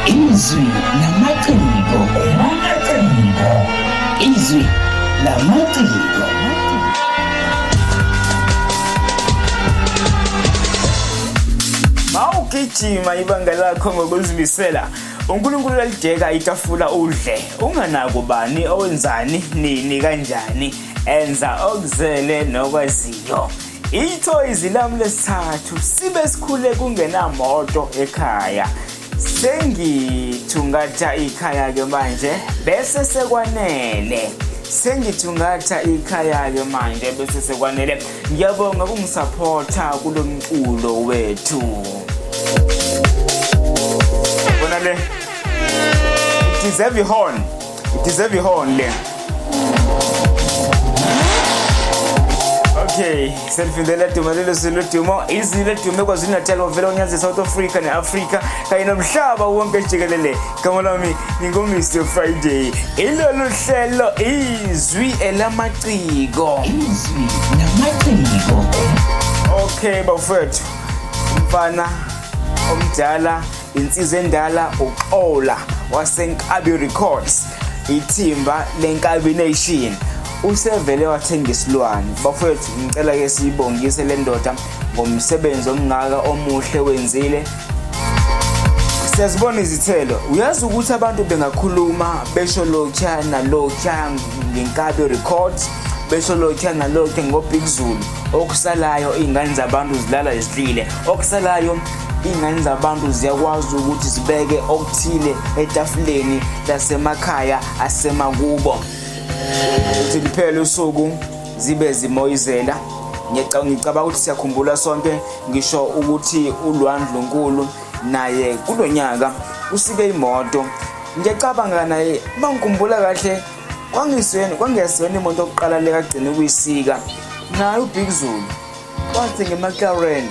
izwi namaciko namaciko izwi namaciko mawugijima ibanga lakho ngokuzimisela unkulunkulu uyalideka itafula udle unganako bani owenzani nini kanjani enza okuzele nokwaziyo Ithoyizi lami lesithathu sibe sikhule kungenamoto ekhaya. Sengithungatha ikhaya-ke manje bese sekwanele. Sengithungatha ikhaya-ke manje bese sekwanele. Ngiyabonga kungisaphotha kulo mculo wethu. Bona le. It deserve a horn. Deserve ihorn le. Okay, selifindela dumo lelo silo dumo izilo edume kwaZulu Natal wavela unyazi South Africa neAfrica kanye nomhlaba wonke jikelele. Gama lami nginguMr Friday. Ilolu hlelo izwi elamaciko. Izwi lamaciko. Okay bafethu. Mfana omdala Insizwa endala uXola waseNkabi Records ithimba leNkabi Nation usevele wathenga isilwane bafowethu ngicela ke siyibongise le ndoda ngomsebenzi omngaka omuhle wenzile siyazibona izithelo uyazi ukuthi abantu bengakhuluma besho lokha nalokha ngenkabi records besho lokha nalokha ngobig zulu okusalayo iy'ngane zabantu zilala zidlile okusalayo Ingane zabantu ziyakwazi ukuthi zibeke okuthile etafuleni lasemakhaya asemakubo. Uthi liphele usuku zibe zimoyizela ngicabanga ukuthi siyakhumbula sonke ngisho ukuthi ulwandlunkulu naye kulo nyaka usike imoto ngiyacabanga naye uma ngikhumbula kahle kwangisweni kwangesiyona imoto yokuqala lekagcine ukuyisika naye ubig zulu Wathi ngeMcLaren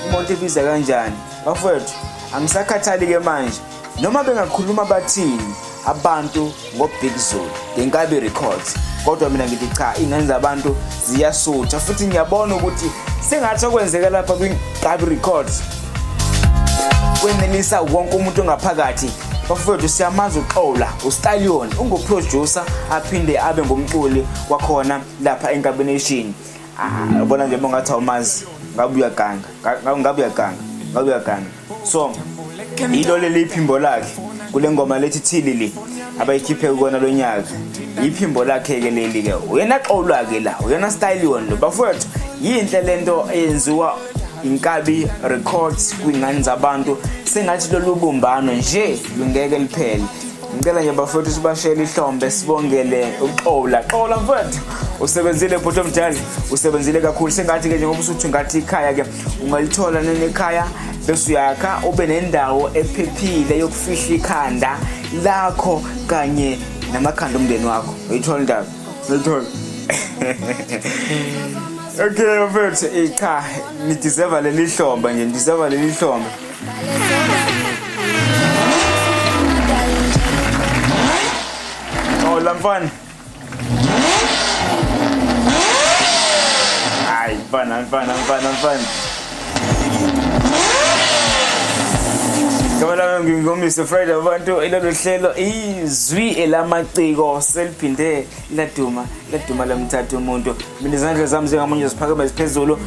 imoto ebiza kanjani? Bafowethu, angisakhathali-ke manje noma bengakhuluma bathini abantu ngo-big zulu ngenkabi records kodwa mina ngithi cha ingane zabantu ziyasutha futhi ngiyabona ukuthi sengathi okwenzeka lapha kwinkabi records kwenelisa wonke umuntu ongaphakathi bafowethu siyamazi uxola ustallion unguproducer aphinde abe ngumculi wakhona lapha enkabination ah, ubona nje bongathi awumazi ngabe uyaganga ngabe uyaganga ngabe uyaganga so yilo leli iphimbo lakhe kule ngoma lethi thilili abayikhiphe kukona lo nyaka yiphimbo lakhe-ke leli-ke uyena xolwa-ke la uyena style wona lo bafowethu yinhle le nto eyenziwa inkabi records kwingane zabantu sengathi lolu bumbano nje lungeke liphele Ngicela nje bafowethu sibashele ihlombe sibongele uXola. Xola mfowethu usebenzile bhuti omdala usebenzile kakhulu sengathi ke njengoba usuthi ngathi ikhaya ke ungalithola nenekhaya bese uyakha ube nendawo ephephile yokufihla ikhanda lakho kanye namakhanda omndeni wakho uyithola indaba uyithola okay mfethu eh, cha nideserve leli hlomba nje nideserve leli hlomba Oh, lamfana. Ay, mfana, mfana, mfana, mfana. Ngibona lami ngingomise Friday abantu ilolu hlelo izwi elamaciko seliphinde laduma laduma lamthatha umuntu mina izandla zami zingamunye ziphakeme ziphezulu